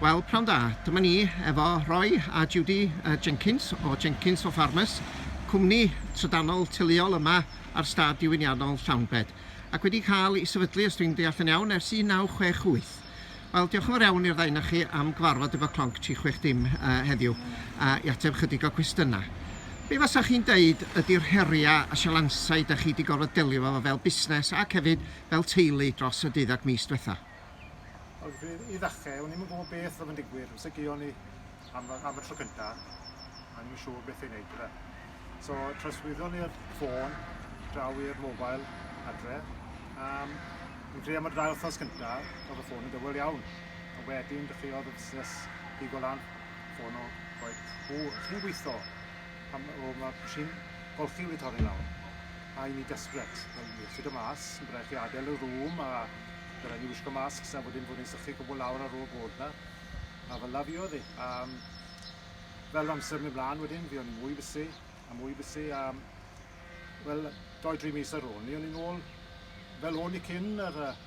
Wel, pnawn da. Dyma ni efo Roy a Judy Jenkins o Jenkins for Farmers, cwmni trydanol teuluol yma ar stad diwyniannol Llawnbed, ac wedi cael ei sefydlu, os dwi'n deall yn iawn, ers 1968. Wel, diolch yn fawr iawn i'r ddau 'na chi am gyfarfod efo Clonc 360 heddiw a i ateb chydig o cwestiynau. Be fasach chi'n deud ydy'r heriau a sialansau da chi wedi gorfod delio efo fel busnes ac hefyd fel teulu dros y deuddag mis diwetha'. Wel, i ddechrau, o'n i'm yn gwybod beth oedd yn digwydd. Os ydy o'n i am, am y tro cyntaf, a ni'n siŵr beth i'n neud gyda. So, troswyddo ni'r ffôn, draw i'r mobile adre. Um, fi'n credu am y dau wythnos cyntaf, oedd y ffôn yn dywel iawn. A wedyn, dechreuodd y busnes pigo lan, ffôn o, roed, o, chi'n gweithio? Pam o mae machine golchi wedi torri lawr. A i ni desperate. Mae'n sut o mas, mae'n rhaid chi adael y rŵm a mae'n rhaid ni wisgo masks a wedyn bod ni'n sychu cwbl lawr ar ôl bod na. A fel la fi oedd hi. A um, fel amser mynd mlaen wedyn, fi o'n i mwy busy a mwy busy a um, wel, doi dri mis ar ôl ni, o'n i'n ôl fel o'n i cyn yr uh,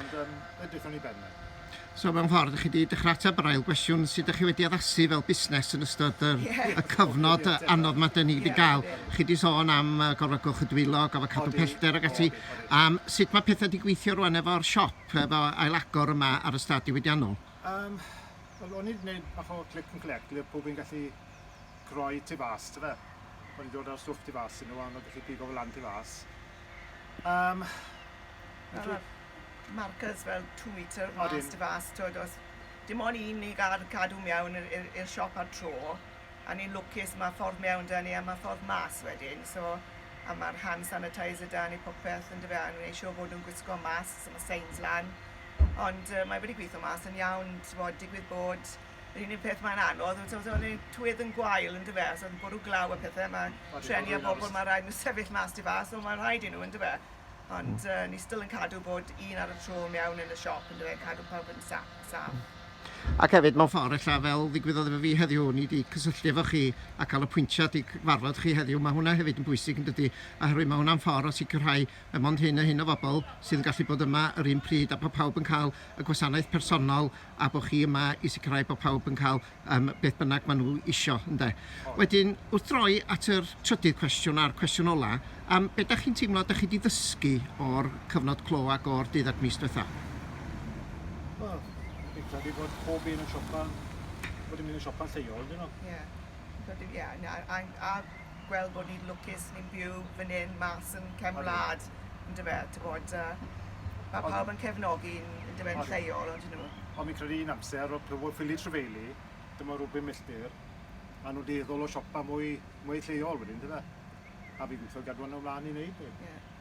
Ond yym edrychwn ni ben wan. So mewn ffordd, chi wedi dechrau ateb yr ail gwestiwn, sut ydych chi wedi addasu fel busnes yn ystod yr, yeah. y cyfnod yeah, anodd mae dyn ni wedi yeah, gael. Yeah. Chi wedi sôn am uh, gofod gwch y dwylo, gofod cadw pellter ac ati. Um, sut mae pethau wedi gweithio rwan efo'r siop, efo ailagor yma ar y stad diwydiannol? Um, Wel, o'n i wedi gwneud bach o click and collect ble pob yn gallu croi tu fas, ti fe? O'n i wedi dod ar stwff tu fas i nhw, a o'n nhw'n gallu pigo fel lan tu fas. Um, Fel ma'r markers fel two metre mas... Odyn. ...tu fas t'wod os dim on' un ni ga'l cadw mewn i'r i'r i'r siop ar tro a ni'n lwcus ma' ffordd mewn 'da ni a ma' ffordd mas wedyn so a ma'r hand sanitizer 'da ni popeth yndyfe a neu' siŵr bod nw'n gwisgo masks a ma' seins lan ond yy mae wedi gwitho mas yn iawn t'wod digwydd bod yr unig peth mae'n anodd yw t'wod o'n i tywydd yn gwael yndyfe so o'dd yn bwrw glaw a pethe ma'... Odyn. ...trueni a bobol ma' raid n'w sefyll mas tu fas on' ma' rhaid i n'w yndyfe? Ond uh, ni still yn cadw bod un ar y tro mewn yn y siop, yn dweud, cadw pawb yn saf. saf. Ac hefyd, mewn ffordd, ella fel ddigwyddodd efo fi heddiw, ni wedi cysylltu efo chi a cael y pwyntiad i gyfarfod chi heddiw, mae hwnna hefyd yn bwysig yn dydy, oherwydd mae hwnna'n ffordd o sicrhau y mond hyn a hyn o bobl sydd yn gallu bod yma yr un pryd a bod pawb yn cael y gwasanaeth personol a bod chi yma i sicrhau bod pawb yn cael yym beth bynnag maen nhw isio, ynde. Wedyn, wrth droi at yr trydydd cwestiwn a'r cwestiwn ola, yym be dach chi'n teimlo dach chi 'di ddysgu o'r cyfnod clo ac o'r deuddag mis diwetha'? Wel, fi'n credu bod pob un yn siopa, bod yn mynd i siopa'n lleol, 'dyn nhw? Ie, fi'n credu, ie, na, a a gweld bod ni'n lwcus, ni'n byw fan hyn, mas yn cefn wlad, yn dyfe, ti'n bod, uh, mae pawb yn cefnogi'n yn dyfe, yn lleol, ond nhw. Ond mi'n credu un amser, o plywodd ffili trefeili, dyma rhywbeth milltir, a nhw'n dueddol o siopa mwy, mwy lleol wedyn, dyfe? A fi'n gweithio gadw hwnna ymlaen i wneud, neu? Yeah.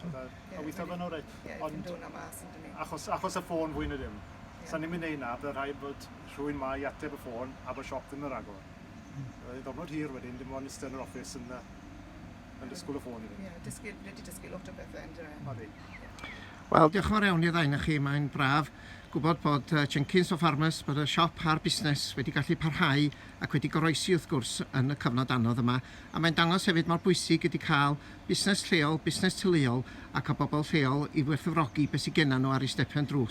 Ie. A weithio fe'n oreit. Ie, ond... Fi'n dod â mas on'd 'yn ni? Achos achos y ffôn fwy na dim. Ie. Sa ni'n myn' neud 'na by' rhaid bod rhywun 'ma i ateb y ffôn a bo' siop ddim yn ragor. Hmm. Fydd e'n ddyrnod hir wedyn dim ond iste yn yr office yn yy yn disgwl y ffôn i fynd. Ie dysgu rhaid ti dysgu lot o bethe on'd yw e? Odi. Wel diolch yn fawr iawn i ddau o'na chi mae'n braf gwbod bod yy Jenkins o Farmers bod y siop a'r busnes wedi gallu parhau ac wedi goroesi wrth gwrs yn y cyfnod anodd yma a mae'n dangos hefyd mor bwysig ydi ca'l busnes lleol, busnes teuluol ac â bobl lleol i werthfawrogi beth sydd gennym nhw ar eu stepen drws.